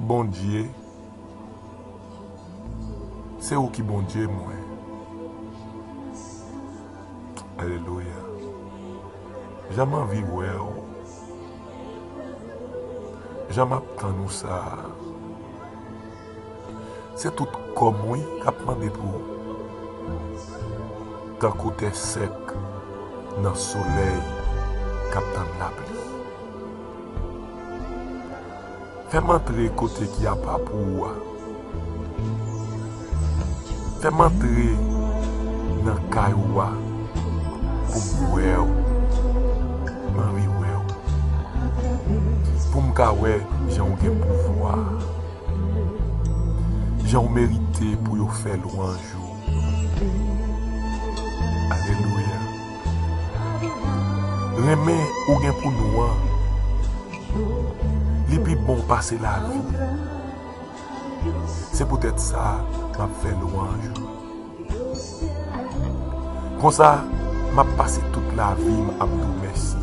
Bondye se ou ki Bondye mwen alelouya jan m anvi wè ou jan m ap tann ou sa se tout kò m wi k ap mande pou ou tankou tè sèk nan solèy k ap tann lapli. Fè m antre kote ki apa pou ou a. Fè m antre nan kay ou a pou m wè ou. M anvi wè ou. Pou m ka wè jan ou gen pouvwa. Jan ou merite pou yo fè lwanj ou. Alelouya. Renmen ou gen pou nou an Li pi bon pase lavi Se poutèt sa m ap fè lwanj ou Konsa m ap pase tout lavi m ap di w mèsi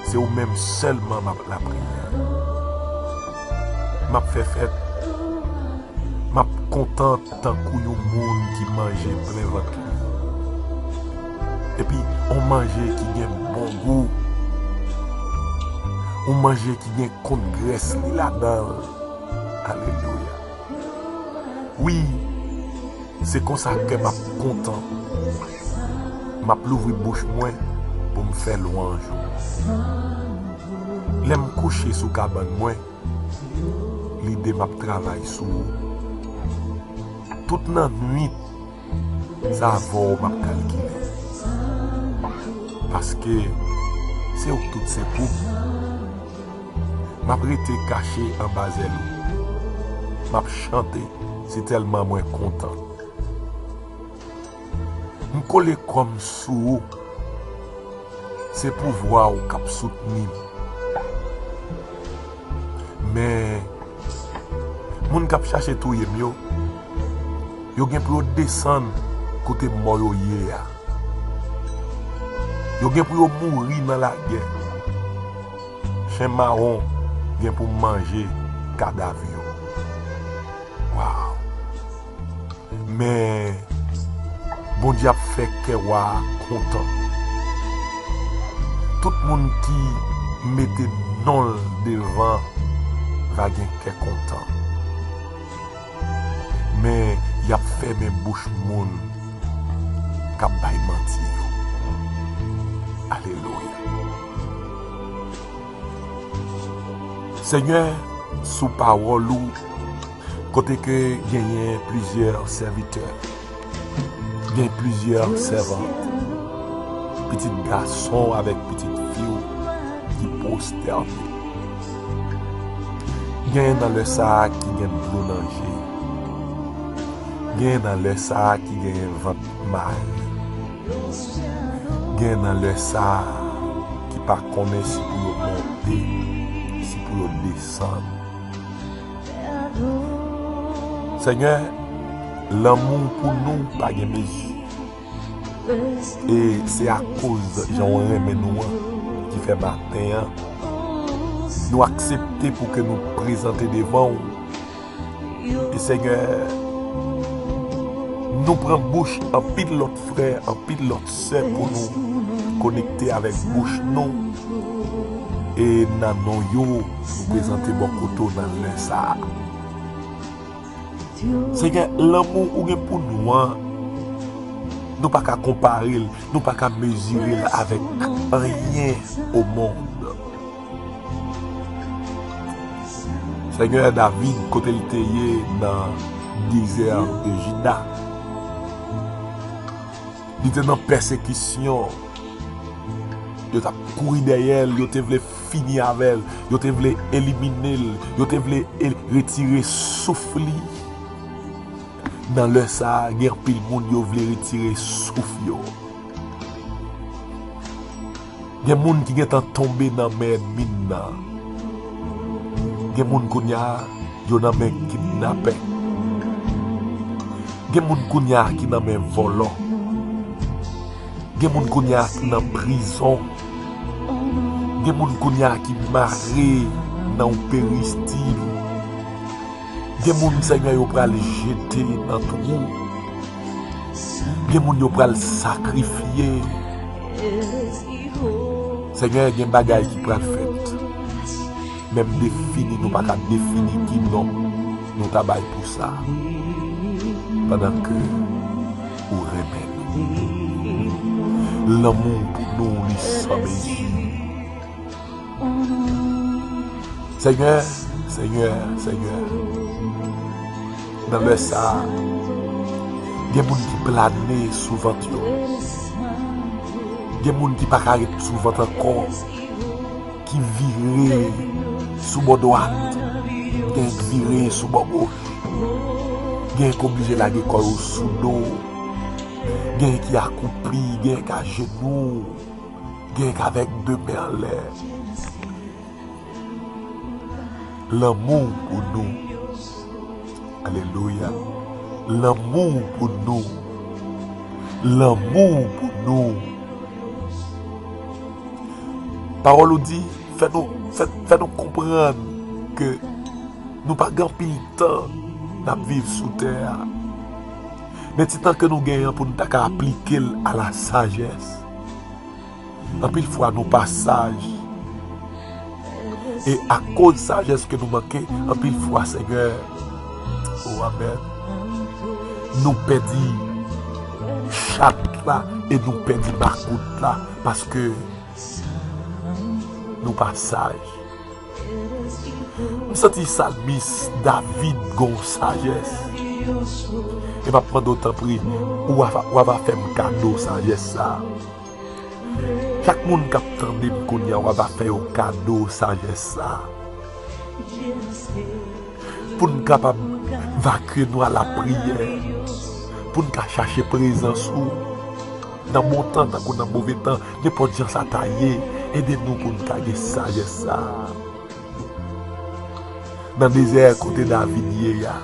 Se ou menm sèlman m ap lapriyè M ap fè fèt M ap kontan Tankou yon moun ki manje plen vant li. Epi yon manje ki gen bon gou. Yon manje ki gen kont grès li ladan l. Alelouya. Wi, se konsa kè m ap kontan. M ap louvri bouch mwen pou m fè lwanj ou. Lè m kouche sou kabann mwen. Lide map travay sou ou. Tout nan nwit sa avè w map kalkile. Paske se ou tout se pou m. Map rete kache anba zèl ou. Map chante si tèlman mwen kontan. M kole kò m sou ou. Se pouvwa w k ap soutni m. Men, moun k ap chache touye m yo, yo gen pou yo desann kote mò yo ye a. Yo gen pou yo mouri nan lagè. Chen mawon gen pou manje kadav yo. Waww! Men Bondye ap fè kè wa a kontan. Tout moun ki mete non l devan va gen kè kontan. Men, y ap fèmen bouch moun k ap bay manti yo. Alelouya! Senyè, sou pawòl ou. Kote ke genyen plizyè sèvitè, gen plizyè sèvant, pitit gason w avèk pitit fi w ki pwostène. Genyen nan lè sa a ki gen dlo nan je yo. Genyen nan lè sa a ki genyen vant mare. Genyen nan lè sa a ki pa konnen si pou yo monte, si pou yo desann. Senyè, lanmou w pou nou pa gen mezi. E se akoz jan w renmen nou an ki fè maten an nou aksepte pou ke nou prezante devan w. E Senyè, nou pran bouch anpil lòt frè, anpil lòt. Sè pou nou konekte avèk bouch nou e nan non yo nou prezante bò kote w nan lè sa a. Senyè, lanmou ou gen pou nou an, nou pa ka konpare l, nou pa ka mezire l avèk anyen omond. Senyè, David kote l te ye nan dezè Jida, Li te nan pèsekisyon. Yo t ap kouri dèyè l. Yo te vle fini avè l. Yo te vle elimine l. Yo te vle retire souf li. Nan lè sa a, gen anpil moun yo vle retire souf yo. Gen moun ki gentan tonbe nan men ènmi n nan. Gen moun kounye a, yo nan men kidnapè. Gen moun kounye a ki nan men vòlò. Gen moun kounye a ki nan prizon. Gen moun kounye a ki mare nan yon peristil. Gen moun, Senyè, yo pral jete nan twou. Gen moun yo pral sakrifye. Senyè gen bagay ki pral fèt. Menm defini nou pa ka defini ki non nou ta bay pou sa. Padan ke ou renmen nou. Lanmou pou nou li san mezi. Senyè, Senyè, Senyè, nan lè sa a, gen moun ki plane sou vant yo, gen moun ki pa ka ret sou vant ankò, ki vire sou bò dwat, gen ki vire sou bò goch, gen ki oblije lage kò yo sou do, gen ki akoupi, gen ki ajenou. Gen kavek de men anlè. Lanmou w pou nou. Alelouya. Lanmou w pou nou. Lanmou w pou nou. Pawòl ou di fè nou fè nou konprann ke nou pa gen anpil tan n ap viv sou tè a. Men ti tan ke nou gen an pou nou ta ka aplike l a la sajès. Anpil fwa nou pa saj. E akoz sajès ke nou manke, anpil fwa Senyè, o amen, nou pèdi chat la e nou pèdi makout la paske nou pa saj. M santi sa miss David gon sajes e map mande w tanpri ou ava fem kado sajes sa chak moun kap tande m kounya ou ava fe yo kado sajes sa pou n kapab vakye nou a la priyè pou n ka chache prezans ou. Nan bon tan tankou nan move tan, nenpòt jan sa ta ye, ede nou pou n ka gen sajès sa a. Nan dezè kote David ye a,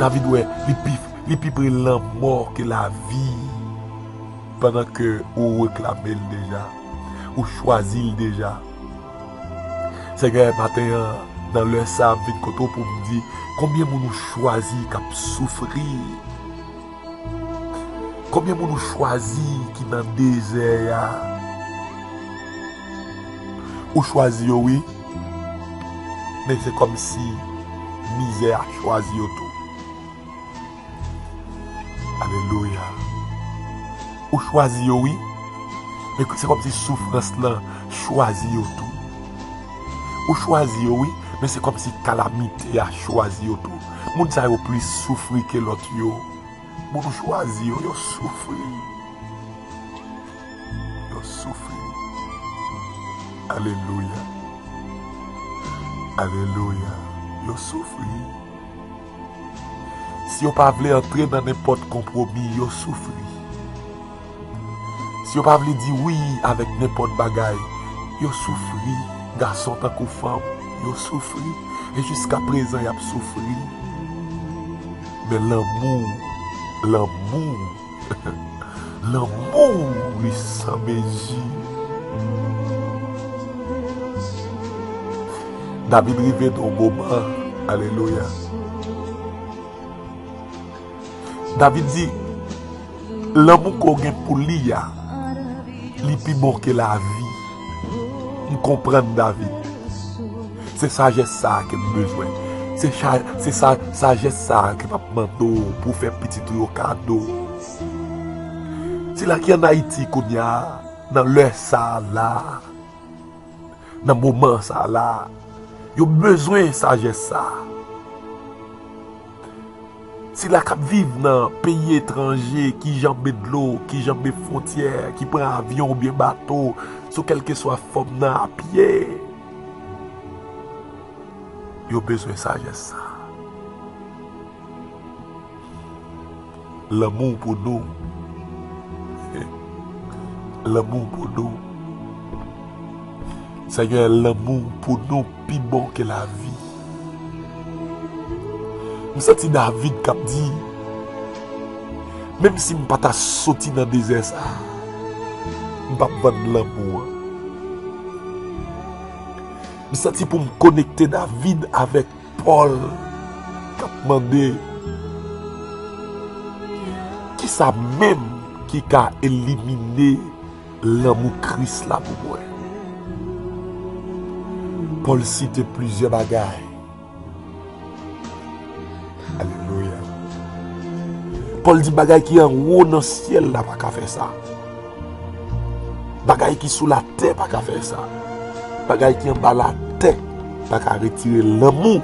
David wè li pi pre lanmò ke lavi pandan ke ou reklame l deja, ou chwazi l deja. Senyè, maten an, nan lè sa a, m vin kote w pou m di, konbyen moun ou chwazi k ap soufri? Konbyen moun ou chwazi ki nan dezè ya. Ou chwazi yo wi men se komsi mizè a chwazi yo tou alelouya ou chwazi yo wi men se komsi soufrans lan chwazi yo tou ou chwazi yo wi men se komsi kalamite a chwazi yo tou. Moun sa yo plis soufri ke lot yo. Boujwazi yo yo soufri. Yo soufri. Alelouya. Alelouya. Yo soufri. Si yo pa vle antre nan nenpot konpwomi, yo soufri. Si yo pa vle di wi avèk nenpòt bagay, yo soufri, gason tankou fanm, yo soufri, e jiska prezan y ap soufri. Men lanmou, lanmou, lanmou li san mezi. David rive nan yon moman, alelouya. David di, Lanmou ke w gen pou li a, li pi bon ke lavi. M konprann, David. Se sajès sa a ke m bezwen. Se sajès sa a ke m ap mande w pou w fè pitit ou yo kado. Sila ki an Ayiti kounye a, nan lè sa a la a, nan moman sa a la a, yo bezwen sajès sa a. Sila k ap viv nan peyi etranje ki janbe dlo, ki janbe fwontyè, ki pran avyon oubyen bato sou kèlkeswa fòm nan a pye, yo bezwen sajès sa a. Lanmou w pou nou Lanmou w pou nou Senyè lanmou w pou nou pi bon ke lavi M santi David kap di Menm si m pa ta soti nan dezè sa a M pap vann lanmou an M santi pou m konekte David avèk Paul tap mande kisa menm ki ka elimine lanmou Kris la pou mwen. Paul site plizyè bagay. Paul di bagay ki anwo nan syèl la pa ka fè sa. Bagay ki sou la tè pa ka fè sa. Bagay ki anba la tè pa ka retire lanmou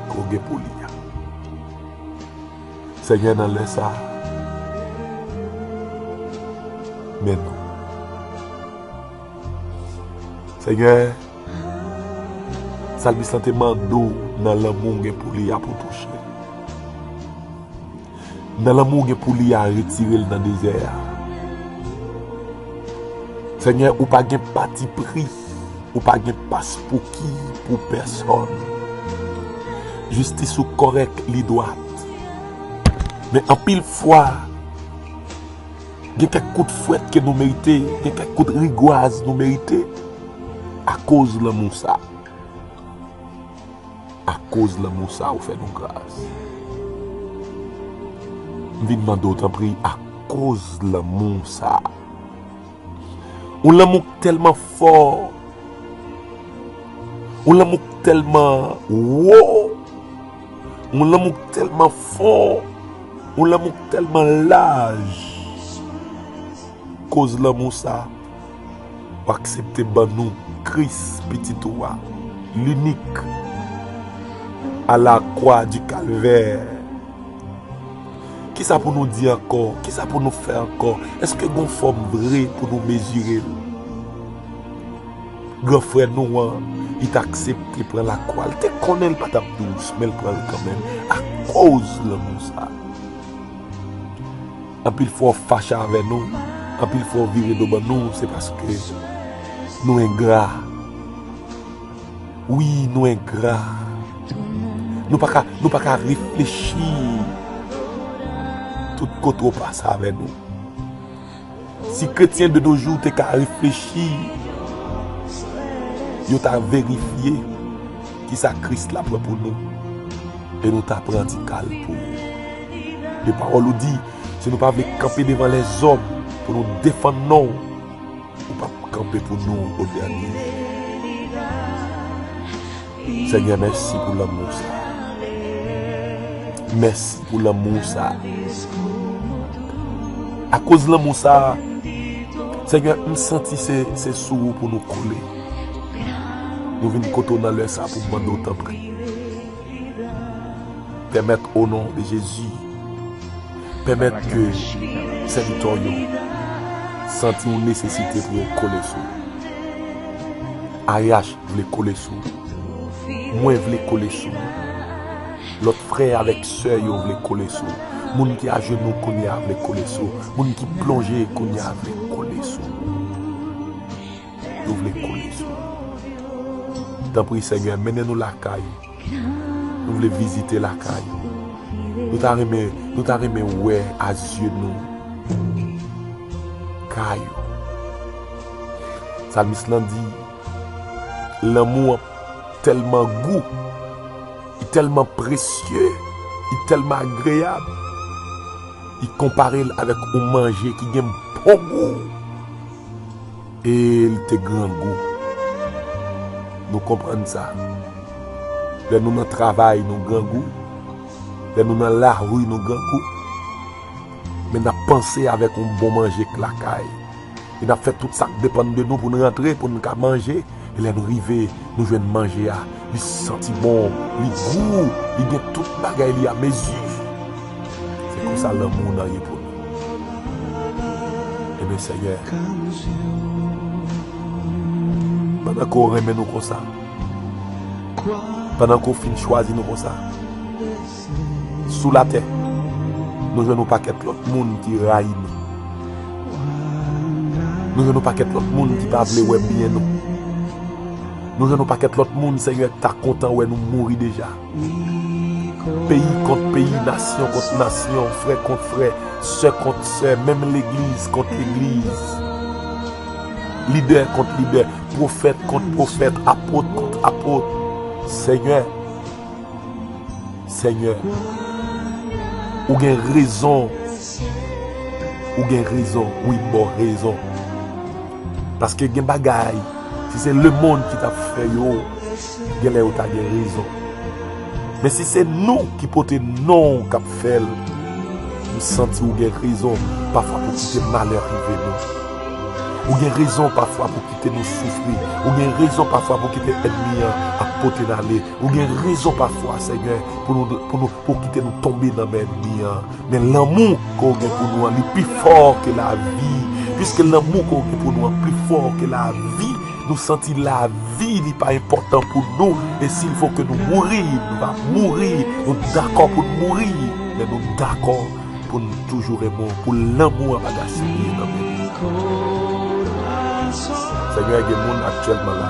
ke w gen pou li a. Senyè nan lè sa, men nou. Senyè, salmis lan te mande w nan lanmou w gen pou li a pou w touche l. Nan lanmou ou gen pou li a retire l nan dezè a. Senyè ou pa gen pati pri, ou pa gen paspouki pou pèsòn. Jistis ou kòrèk, li dwat. Men anpil fwa, gen kèk kout fwèt ke nou merite, gen kèk kout rigwaz nou merite akoz lanmou sa. A koz lanmou sa ou fè nou gras. M vin mande w tanpri a koz lanmou sa. Yon lanmou k tèlman fò. Yon lanmou k tèlman wo. Yon lanmou k tèlman fon. Yon lanmou k tèlman laj. Koz lanmou sa. Ou aksepte ban nou Kris, Pitit ou a, linik, a la kwa di kalvè. Ki sa pou nou di ankò? Ki sa pou nou fè ankò? Eske gen yon fòm vre pou nou mezire l? Gran frè nou an, li t aksepte pran lakwa. Li te konnen li pa t ap dous, men li pran l kanmenm akoz lanmou sa a. Anpil fwa ou fache avè nou, anpil fwa ou vire do ban nou, se paske nou engra. Wi, nou engra. Nou pa ka, nou pa ka reflechi tout kote ou pase avè nou. Si kretyen de nou jou te ka reflechi, yo ta verifye ki sa Kris la pran pou nou, e nou ta pran ti kal pou ou. E pawòl ou di, si nou pa vle kanpe devan lèzòm pou nou defann non ou, ou pap kanpe pou nou o dènye jou. Senyè mèsi pou lanmou sa. Mèsi pou lanmou sa. Akoz lanmou sa, Senyè m santi se sou ou pou nou kole. Nou vin kote w nan lè sa pou nou mande w tanpri. Pèmèt o non de Jezi. Pèmèt ke sèvitè w yo santi yon nesesite pou yo kole sou ou. AEH vle kole sou ou. Mwen vle kole sou ou. Lòt frè avèk sè yo vle kole sou ou. Moun ki ajenou kounye a vle kole sou ou. Moun ki plonje kounye a vle kole sou ou. yo vle kole sou nou tanpri senyè mennen nou lakay ou nou vle vizite lakay ou nou ta renmen nou ta renmen wè a zye nou kay ou salmis lan di lanmou an tèlman gou li tèlman presye li tèlman agreyab li konpare l avèk yon manje ki gen bon gou. E li te grangou. Nou konprann sa. Lè nou nan travay nou grangou. Lè nou nan lari nou grangou. Men nap panse avèk yon bon manje k lakay. E nap fè tout sak depann de nou pou n rantre pou n ka manje. Elèn rive, nou jwenn manje a, li santi bon, li gou, li gen tout bagay li a mezi. Se konsa lanmou w nan ye pou nou. Eben Senyè, pandan ke w renmen nou konsa, pandan ke w fin chwazi nou konsa, sou latè, nou jwenn yon pakèt lòt moun ki rayi nou. Nou jwenn yon pakèt lòt moun ki pa vle wè byen nou. Nou jwenn yon pakèt lòt moun Senyè ki ta kontan wè nou mouri deja. Peyi kont peyi, nasyon kont nasyon, frè kont frè, sè kont sè, menm legliz kont legliz, lidè kont lidè, pwofèt kont pwofèt, apot kont apot. Senyè! Senyè ou gen rezon ou gen rezon wi boo rezon paske gen bagay si se le mond ki tap fè yo gen lè yo ta gen rezon men si se nou ki pote non kap fèl m santi ou gen rezon pafwa pou kite malè rive nou ou gen rezon pafwa pou kite nou soufri ou gen rezon pafwa pou kite ènmi an ap pote nale. Ou gen rezon pafwa senyè pou nou pou nou pou kite nou tonbe nan men enmi an men lanmou ke ou gen pou nou an li pi fò ke lavi piske lanmou ke ou gen pou nou an pi fò ke lavi nou santi lavi li pa enpòtan pou nou e sil fò ke nou mouri nou va mouri nou dakò pou nou mouri men nou dakò pou nou toujou renmen w pou lanmou an pa gaspiye nan men nou korason senyè gen moun aktyèlman la.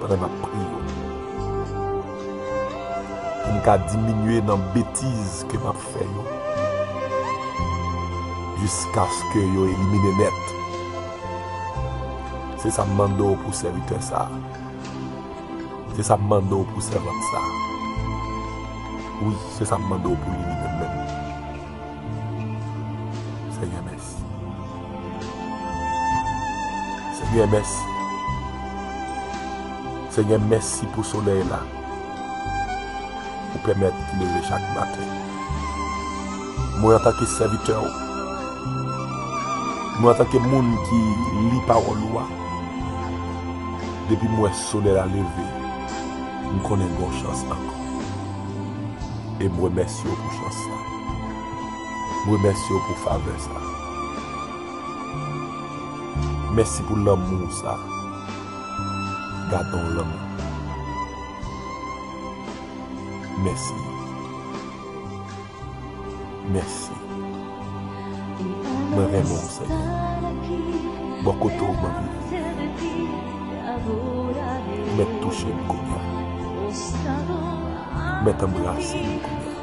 Pandan nap priye yo. Poum ka diminye nan betiz ke map fè yo. Jiskaske yo elimine nèt. Se sa m mande w pou sèvitè sa. Se sa m mande w pou sèvant sa. Wi, se sa m mande w pou li menm. Senyè mèsi. Senyè mèsi. Senyè mèsi pou solèy la ou pèmèt m leve chak maten. Mwen antanke sèvitè ou, mwen antanke moun ki li pawòl ou a, depi m wè solèy la leve, m konnen gen yon chans ankò e m remèsye w pou chans sa. M remèsye w pou favè sa a. Mèsi pou lanmou w sa a. Gade yon lanmou. Mèsi. Mèsi. Mwen renmen w Senyè. Bò kote w m anvi viv. Mèt touche m kounya. Mèt anbrase m kounya.